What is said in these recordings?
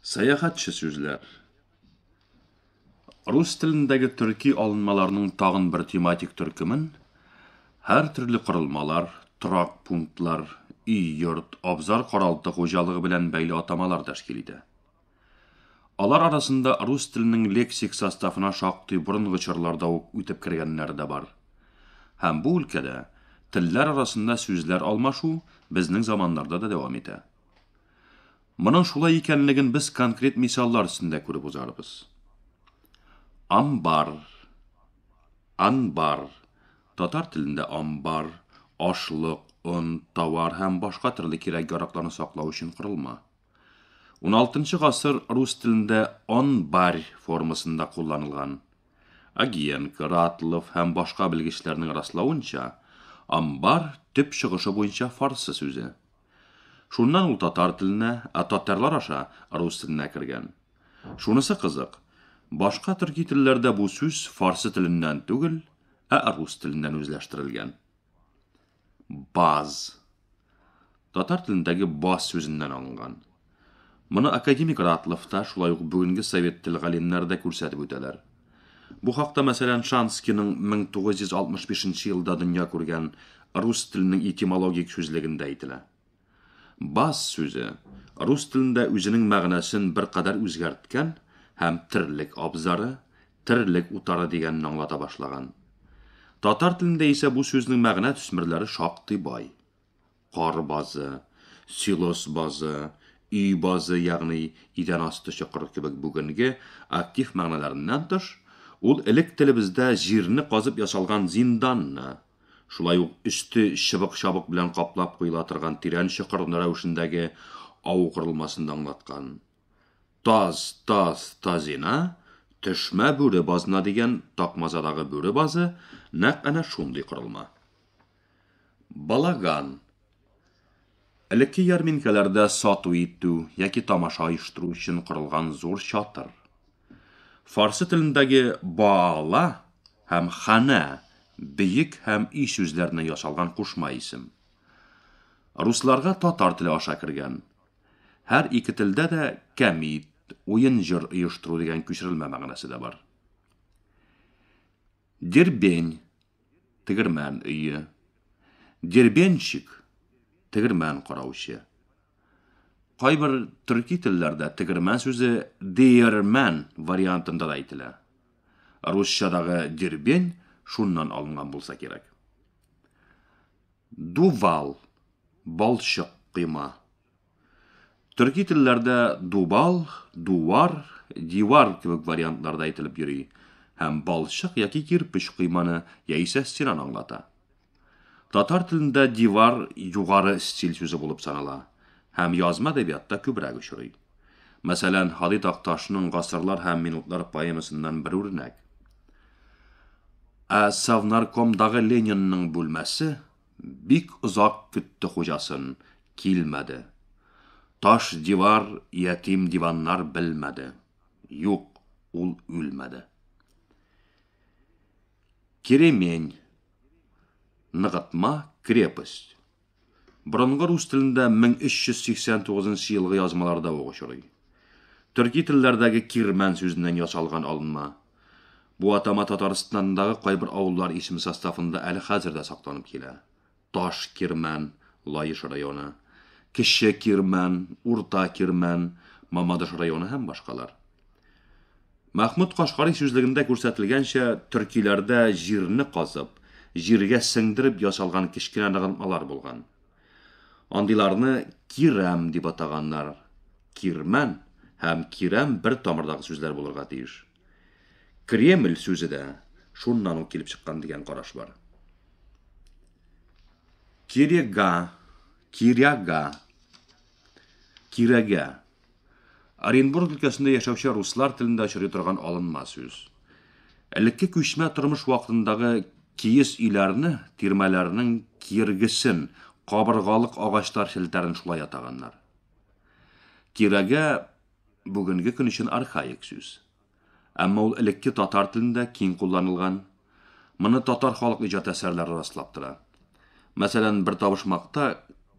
Сәяхәтче сүзләр. Рус телендәге төрки алынмаларның тагын бер тематик төркемен һәр төрле корылмалар, торак пунктлар, өй, йорт, абзар каралты хуҗалыгы белән бәйле атамалар тәшкил итә. Алар арасында рус теленең лексик составына шактый борынгы чорларда ук үтеп кергәннәр дә бар. Һәм бу өлкәдә телләр арасында сүзләр алмашу безнең заманнарда да дәвам итә. Моның шулай икәнлеген без конкрет мисаллар өстендә күреп узарбыз. Амбар. Анбар. Татар телендә амбар, ашлык, он, товар һәм башка төрле кирәк-яракларны саклау өчен корылма. 16 гасыр рус телендә онбарь формасында кулланылган. Агиенко, Ратлов һәм башка белгечләрнең раславынча, амбар төп чыгышы буенча фарсы сүзе. Шуннан ул татар теленә, ә татарлар аша рус теленә кергән. Шунысы кызык, башка төрки телләрдә бу сүз фарсы теленнән түгел, ә рус теленнән үзләштерелгән. Баз. Татар телендәге баз сүзеннән алынган. Моны академик Ратлов та, шулай ук бүгенге совет тел галимнәре дә күрсәтеп үтәләр. Бу хакта, мәсәлән, Шанскийның 1965 нче елда дөнья күргән Рус теленең этимологик сүзлегендә әйтелә. Бас сүзе рус телендә үзенең мәгънәсен беркадәр үзгәрткән һәм терлек абзары, терлек утары дигәнне аңлата башлаган. Татар телендә исә бу сүзнең мәгънә төсмерләре шактый бай. Кар базы, силос базы, өй базы, ягъни идән асты чокыры кебек бүгенге актив мәгънәләреннән тыш, ул элек телебездә җирне казып ясалган зинданны, шулай ук өсте чыбык-чабык белән каплап куела торган тирән чокыр рәвешендәге ау корылмасын да аңлаткан. Таз, таз, тазина, төшмә, бүре базына дигән Такмазадагы бүре базы нәкъ әнә шундый корылма. Балаган. Элекке ярминкәләрдә сату итү яки тамаша оештыру өчен корылган зур чатыр. Фарсы телендәге баала һәм хана, бөек һәм өй сүзләреннән ясалган кушма исем. Русларга татар теле аша кергән. Һәр ике телдә дә кәмит, уен-җыр оештыру дигән күчерелмә мәгънәсе дә бар. Дербень, тегермән өе. Дербенщик, тегермән караучы. Кайбер төрки телләрдә тегермән сүзе диермән вариантында да әйтелә. Русчадагы дербень шуннан алынган булса кирәк. Дувал, балчык койма. Төрки телләрдә дубал, дувар, дивар кебек вариантларда әйтелеп йөри һәм балчык яки кирпеч койманы яисә стенаны аңлата. Татар телендә дивар югары стиль сүзе булып санала һәм язма әдәбиятта күбрәк очрый. Мәсәлән, Һади Такташның Гасырлар һәм минутлар поэмасыннан бер үрнәк. Ә Совнаркомдагы Ленинның бүлмәсе Бик озак көтте хуҗасын, килмәде. Таш дивар, ятим диваннар белмәде. Юк, ул үлмәде. Керемень. Ныгытма, крепость. Борынгы рус телендә 1389 елгы язмаларда ук очрый. Төрки телләрдәге кирмән сүзеннән ясалган алынма. Бу атама Татарстандагы кайбер авыллар исеме составында әле хәзер дә сакланып килә. Таш Кирмән, Лаеш районы, Кече Кирмән, Урта Кирмән, Мамадыш районы һәм башкалар. Мәхмүт Кашкарый сүзлегендә күрсәтелгәнчә, төркиләрдә җирне казып, җиргә сеңдереп ясалган кечкенә ныгылмалар булган. Андыйларны кирәм дип атаганнар. Кирмән һәм кирәм бер тамырдагы сүзләр булырга тиеш. Кремль сүзе дә шуннан ук килеп чыккан дигән караш бар. Кирега, киряга, кирәгә. Оренбург өлкәсендә яшәүче руслар телендә очрый торган алынма сүз. Элекке күчмә тормыш вакытындагы киез өйләрне, тирмәләрнең киргесен, кабыргалык агачлар челтәрен шулай атаганнар. Тирәгә бүгенге көн өчен архаик сүз. Әмма ул элекке татар телендә киң кулланылган. Моны татар халык иҗат әсәрләре раслап тора. Мәсәлән, бер табышмакта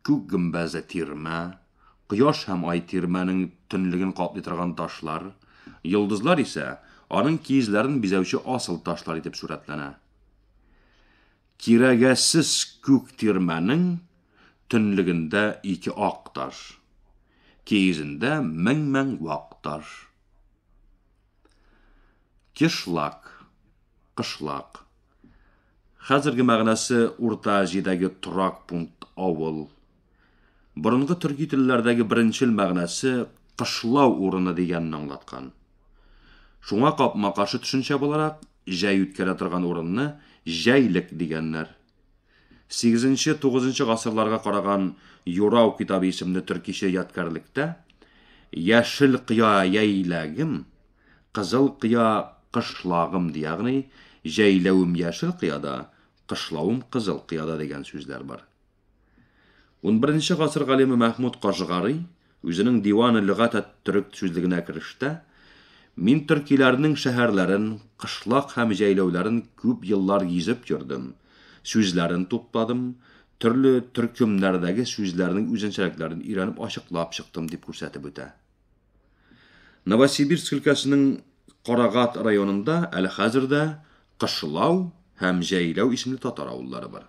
күк гөмбәзле тирмә, кояш һәм ай тирмәнең төнлеген каплый торган ташлар, йолдызлар исә аның киезләрен бизәүче асыл ташлар итеп сурәтләнә. Кирәгәсез күк тирмәнең төнлегендә ике ак таш, киезендә мең-мең вак таш. Кишлак, кышлак. Хәзерге мәгънәсе Урта Азиядәге торак пункт авыл. Борынгы төрки телләрдәге беренчел мәгънәсе кышлау урыны дигәнне аңлаткан. Шуңа капма-каршы төшенчә буларак, җәй үткәрә торган урынны җәйлек дигәннәр. Сигезенче-тугызынчы гасырларга караган Юрау китабы исемле төркичә ядкәрлектә Яшел кыя яйләгем, кызыл кыя кышлагым ди, ягъни җәйләвем яшел кыяда, кышлавым кызыл кыяда дигән сүзләр бар. Унберенче гасыр галиме Мәхмүд Кашгари Үзенең Диван-ы лөгать әт-төрек сүзлегенә керештә, Мин төркиләрнең шәһәрләрен, кышлак һәм җәйләүләрен күп еллар гизеп йөрдем, сүзләрен тупладым, төрле төркемнәрдәге сүзләрнең үзенчәлекләрен өйрәнеп ачыклап чыктым, дип күрсәтеп үтә. Новосибирск өлкәсенең Карагат районында әле хәзер дә Кышлау һәм Җәйләү исемле татар авыллары бар.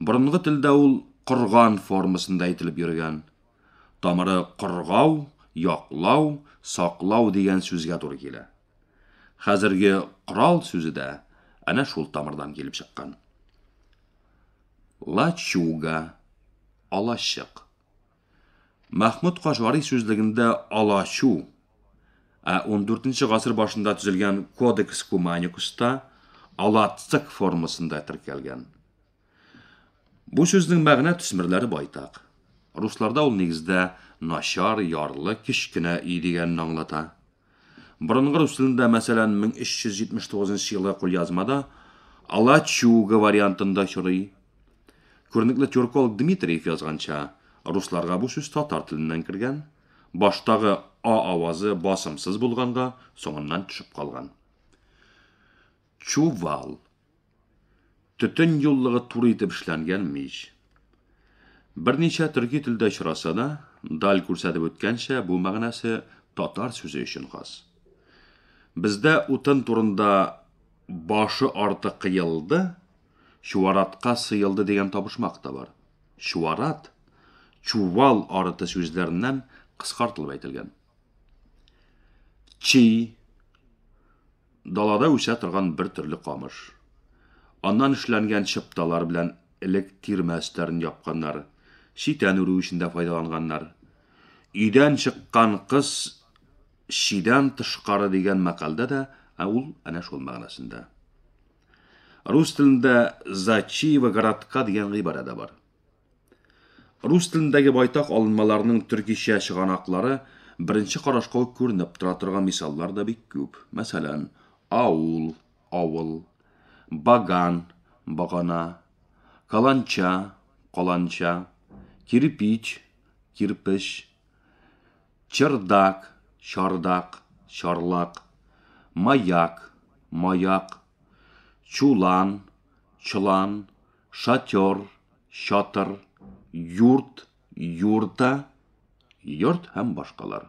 Борынгы телдә ул корган формасында әйтелеп йөргән. Тамыры коргау, яклау, саклау дигән сүзгә туры килә. Хәзерге корал сүзе дә әнә шул тамырдан килеп чыккан. Лачуга, алачык. Мәхмүд Кашгари сүзлегендә Алачу, ә ундүртенче гасыр башында төзелгән Кодекс Куманикуста Алацык формасында теркәлгән. Бу сүзнең мәгънә төсмерләре байтак. Русларда ул нигездә начар, ярлы, кечкенә өй дигәнне аңлата. Борынгы рус телендә, мәсәлән, 1379 елгы кулъязмада Алачуга вариантында очрый. Күренекле тюрколог Дмитриев язганча, русларга бу сүз татар теленнән кергән, баштагы а авазы басымсыз булганга, соңыннан төшеп калган. Чувал. Төтен юллыгы туры итеп эшләнгән мич. Берничә төрки телдә очраса да, Даль күрсәтеп үткәнчә, бу мәгънәсе татар сүзе өчен хас. Бездә утын турында башы арты кыелды, чуаратка сыелды дигән табышмак та бар. Чуарат, чувал арыты сүзләреннән кыскартылып әйтелгән. Чи, Далада үсә торган бер төрле камыш. Аннан эшләнгән чыпталар белән элек тирмә өсләрен япканнар, читән үрү өчен дә файдаланганнар. Өйдән чыккан кыз чидән тышкары дигән мәкалдә дә ә ул әнә шул мәгънәсендә. Рус телендә зачиева городка дигән гыйбарә дә бар. Рус телендәге байтак алынмаларның төркичә чыганаклары беренче карашка ук күренеп тора торган мисаллар да бик күп. Мәсәлән, аул, авыл, баган, багана, каланча, каланча, кирпич, кирпеч, чердак, чардак, чарлак, маяк, маяк, чулан, чолан, Шатер, чатыр, юрт, юрта, йорт һәм башкалар.